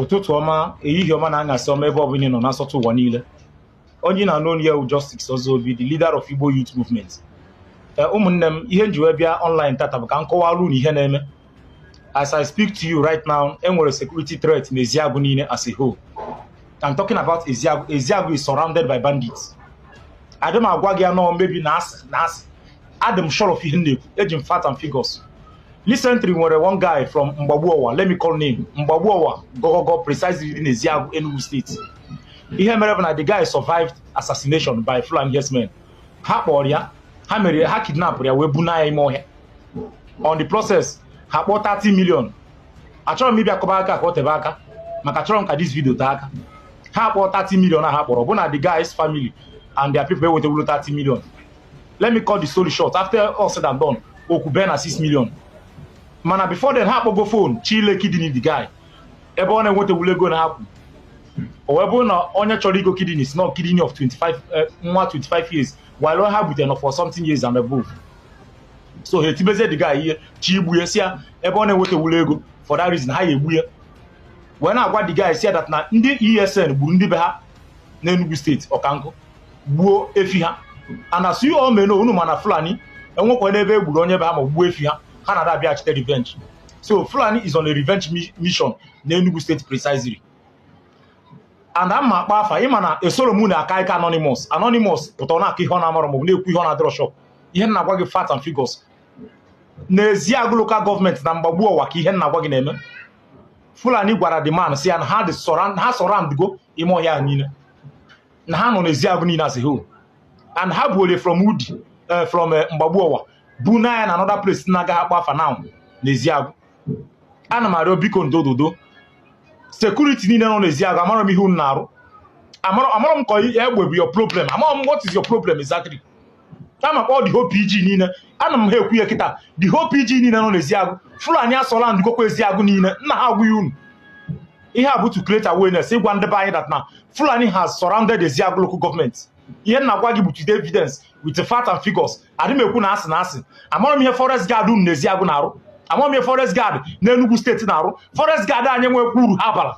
ụtụtụ ọma ehihie ọma na anyasị ọma ebe ọbụla ị nọ na nsọtụ ụwa niile onye ị na-anụ onu ya wụ Justice Ozobi the leader of Igbo Youth Movement ee ụmụnne m ihe m ji wee bịa online tata bụ ka m kọwara unu ihe na-eme as I speak to you right now enwere security threat na Eziagu niile as a whole I'm talking about Eziagu Eziagu is surrounded by bandits adị m agwa gị anọ maybe na asị na asị adị m sure of ihe m na-ekwu eji m fact and figures recently nwere one guy from Mgbagbuowa let me call name Mgbagbuowa Gogogo precisely in Eziagu Enugu State ihe mere bụ na the guy survived assassination by Fulani herdsmen ha kpọrọ ya ha mere ha kidnapụrụ ya wee buna ya ime ọhịa on the process ha kpọọ 30 million achọrọ m ịbịa kọba akụkọ o tebe aka maka achọrọ m ka this video tee aka ha kpọọ 30 million a ha kpọrọ bụ na the guy's family and their people ewetewuro 30 million let me cut the story short after all said and done okwu bee na 6 million mana before then ha akpọgo phone chọọ ile kidney the guy ebe ọ na-enwetawuro ego na ha kwu o wee bụrụ na onye chọrọ igo kidney sị na kidney of 25 eh, nwa 25 years while ha butere nọ forty something years and above so ha etibezie the guy ihe chọọ igbu ya sị ya ebe ọ na-enwetawuro ego for that reason ha ya egbu ya wee na-agwa the guy sị ya that na ndị ESN gburu ndị be ha n'Enugu State Okpanku gbuo efi ha and as you may know unu ma na Fulani enwekwa n'ebe egburu onye be ha ma gbuo efi ha ha na-abịa achọ ịtake revenge so fulani is on a revenge mission na Enugu State precisely and ama akpọ afa ịma na esoro m na-akọ ihe anonymous anonymous pụtara na-akọ ihe ọ na-amarọ maọbụ na-ekwu ihe ọ na-adịrọ sure of ihe m na-agwa gị fact and figures n'Eziagụ local government na Mgbagbu Ọwa ka ihe m na-agwa gị na-eme fulani gwara the man sị ya na ha dị ha surroundgo ime ọhịa niile na ha nọ n'Eziagụ niile as a whole and ha buru ya from Udi eh, from eh, Mgbagbu Ọwa buna ya na another place m na-agaghị akpọ afa now n'Eziagụ ana m arịọ biko the whole the whole security niile nọ n'Eziagụ amarọ m ihe unu na-arụ amarọ amarọ m ka egbe bụ your problem amarọ m what is your problem exactly ka m kpọọ the whole pg niile ana m ha ekwu ya kịta the whole pg niile nọ n'eziagụ fulani asurroundigokwa eziagụ niile m na-agwa unu ihe a bụ to create awareness ịgwa ndị be anyị that na fulani has surrounded eziagụ local government ihe m na-agwa gị bụ with the evidence with the fact and figures adị m ekwu na asị na asị amarọ m ihe forest guard nọ na eziagụ na-arụ amarọ m ihe forest guard na Enugu State na-arụ forest guard anyị nwekwa uru ha bara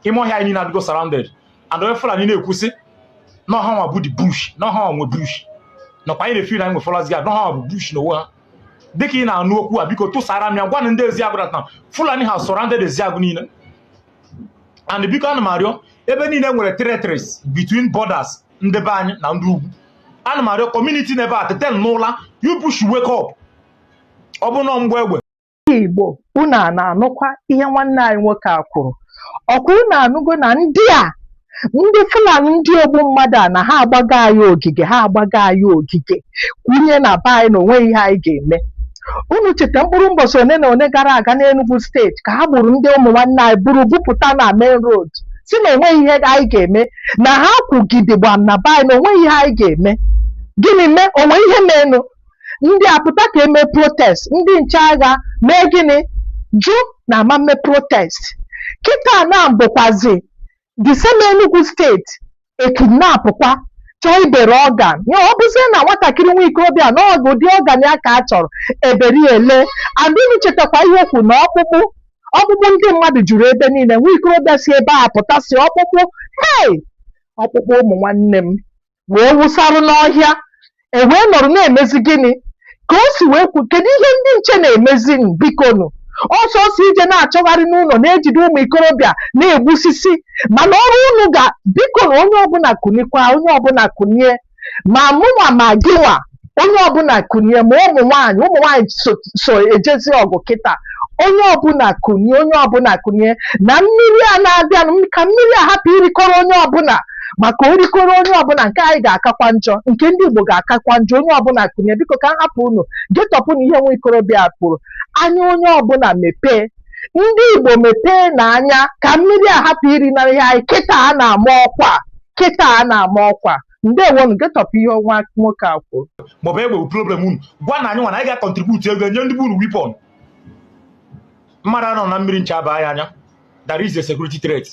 ime ọhịa anyị niile adịgo surrounded and onye Fulani na-ekwu sị na ọ ha nwa bụ the bush na ọ ha nwa nwe bush nakwa anyị na-efeel na anyị nwe forest guard na ọ ha nwa bụ bush n'onwe ha dịka ị na-anụ okwu a biko tụsara m ya gwa na ndị Eziagụ na Fulani has surrounded Eziagụ niile and biko ana m arịọ ebe niile nwere territories between borders ndị be anyị na ndị ugwu ana m arịọ community n'ebe a tete n'ụla you people should wake up ọ bụrụ na ọ mgba egbe Ndị Igbo, unu a na-anụkwa ihe nwanne anyị nwoke a kwuru? Ọkwa unu anụgo na ndị a ndị Fulani ndị ogbu mmadụ a na ha agbago anyị ogige ha agbago anyị ogige kwunye na be anyị na onweghị ihe anyị ga-eme unu cheta mkpụrụ mbọchị one na one gara aga n'Enugu steeti ka ha gburu ndị ụmụ nwanne anyị buru bupụta na main road si na onweghị ihe anyị ga-eme na ha kwụgide gbam na be anyị na onweghị ihe anyị ga-eme gịnị mee o nwe ihe meenụ ndị apụta ka e mee protest ndị nche agha mee gịnị jụ na a ma-eme protest kịta na bụkwazi the same Enugu steeti e kidnapụkwa chọọ ibere organ ya ọ bụzie na nwatakịrị nwa ikorobịa na ọ bụ ụdị organ ya ka a chọrọ eberi ele and unu chetakwa ihe o kwu na ọkpụkpụ ọkpụkpụ ndị mmadụ juru ebe niile nwa ikorobịa si ebe a pụta si ọkpụkpụ hei ọkpụkpụ ụmụ nwanne m wee wụsara n'ọhịa e wee nọrọ na-emezi gịnị ka o si wee kwu kedu ihe ndị nche na-emezinụ bikonu ọ sọsọ ije na-achọgharị n'ụlọ na-ejide ụmụ ikorobịa na-egbusisi mana ọrụ unu ga bikonu onye ọbụla kunikwa onye ọbụla kunie ma mụnwa ma gịnwa onye ọbụla kunie ma ụmụ nwaanyị ụmụ nwaanyị so ejezi ọgụ kịta onye ọbụla kunie onye ọbụla kunie na mmiri a na-abịanụ m- ka mmiri a hapụ irikọrọ onye ọbụla maka o rikọrọ onye ọbụla nke anyị ga-akakwa njọ nke ndị Igbo ga-akakwa njọ onye ọbụla kunie biko ka m hapụ unu getọpụ na ihe nwa ikorobịa a kwuru anya onye ọbụla mepee ndị Igbo mepeenụ anya ka mmiri a hapụ iri na ihe anyị kịta a na-ama ọkwa kịta a na-ama ọkwa ndewonụ getọpụ ihe nwa nwoke a kwuru ma ọ bụ egbe bụ problem unu gwanụ anyị nwa na anyị ga-acontribute ego nye ndị be unu weapon mmadụ anọ na mmiri ncha abaa ya anya there is a security threat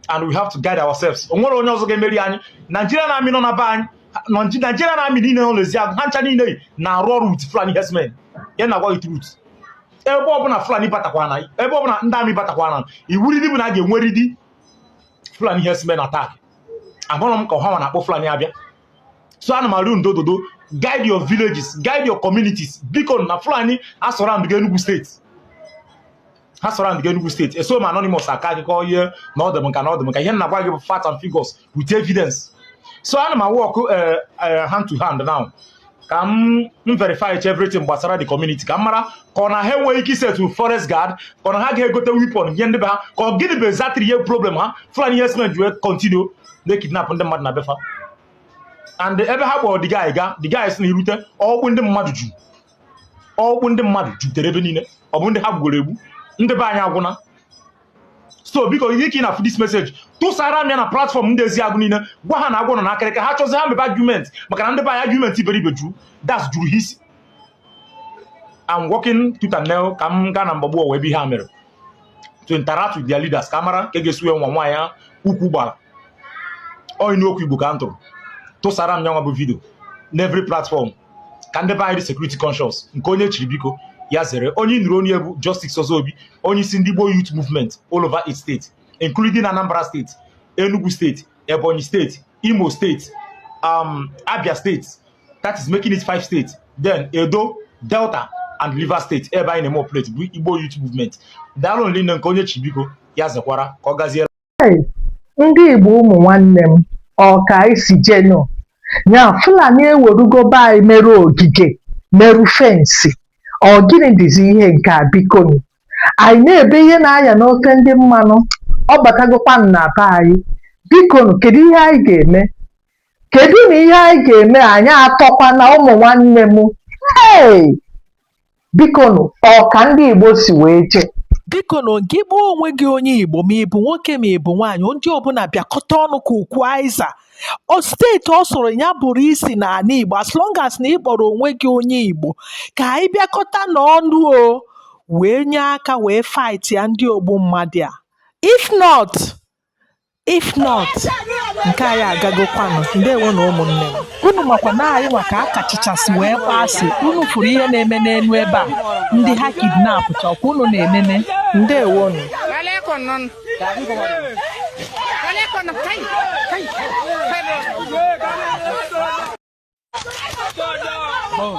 and we have to guide ourselves o nwere onye ọzọ ga-emeri anyị Nigerian army nọ na be anyị Naj- Nigerian army niile nọ n'Ezeagụ ha ncha niile yi na-arụ ọrụ with fulani herdsmen ya na-agwa gị truth ebe ọbụla fulani batakwana ebe ọbụla ndị army batakwana iwuridi bụ na a ga-enweridi fulani herdsmen attack amarọ m ka ọ ha nwa na-akpọ Fulani abịa so ana m arịọ ndo dodo guide your villages guide your communities biko na Fulani asurroundgo Enugu steeti ha surroundgo Enugu steeti eso m anonymous akọ akụkọ ihe na ọdụ m nka na ọdụ m nka ihe na-agwa gị bụ facts and figures with evidence so ana m awork hand to hand now ka m verify each everything gbasara the community ka m mara ka ọ na ha enweghị ike iset forest guard ka ọ na ha ga-egote weapon nye ndị be ha ka ọ gịnị bụ exactly ihe problem ha fulani herdsmen ji wee continue na-ekidnap ndị mmadụ na befa and ebe ha kpọrọ the guy ga the guy si na i rute ọkpụ ndị mmadụ ju ọkpụ ndị mmadụ jutere ebe niile ọ bụ ndị ha gbugoro egbu ndị be anyị agwụna so biko ihe ka ị na-afụ this message tụsara m ya na platform ndị Ezeagụ niile gwa ha na agwọ nọ n'akịrịka ha chọzi ha mebe argument maka na ndị be anyị argument iberibe juru that's juru ha isi I'm working tooth and nail ka m gaa na Mgbagbu Ọwa ebe ihe a mere to interact with their leaders ka a mara ka e ga-esi wee nwa nwaanyị ya ukwu gbara ọyị n'okwu Igbo ka m tụrụ tụsara m ya nwa bụ vidio n'every platform ka ndị be anyị dị security conscious nke onye chiri biko ya zere onye ị nụrụ onu ya bụ Justice Ozobi onye isi ndị Igbo Youth Movement all over eight states including Anambra steeti Enugu steeti Ebonyi steeti Imo steeti um, Abia steeti that is making it five states then Edo Delta and Rivers steeti ebe anyị na-eme operate bụ Igbo Youth Movement daalụnụ rinne nke onye chiri biko ya zekwara ka ọ gaziere Hey, ndị Igbo ụmụ nwanne m ọ ka anyị si jenụ nya Fulani ewerugo be anyị mere ogige merụ fensị ọ gịnị dịzi ihe nke a bikonu anyị na-ebe ihe na-aya n'ofe ndị mmanụ ọ batagokwa na be anyị bikonu kedu ihe anyị ga-eme kedunụ ihe anyị ga-eme anyị atọkwana ụmụ nwanne m hey! bikonu ọ ka ndị Igbo si wee jee bikonu gị kpọọ onwe gị onye Igbo ma ị bụ nwoke ma ị bụ nwaanyị ndị ọbụla bịakọta ọnụ ka ukwu azịza o steeti ọ sọrọ ya bụrụ i si n'ala Igbo as long as na ị kpọrọ onwe gị onye Igbo ka anyị bịakọtanụ ọnụ o wee nye aka wee fight ya ndị ogbu mmadụ a if not if not nke anyị agagokwanụ ndewonụ ụmụnne m unu makwa na anyị nwa ka a kachichasị wee kpọọ asị unu fụrụ ihe na-eme n'elu ebe a ndị ha kidnapụchakwa unu na-enene ndewo nụ Oh.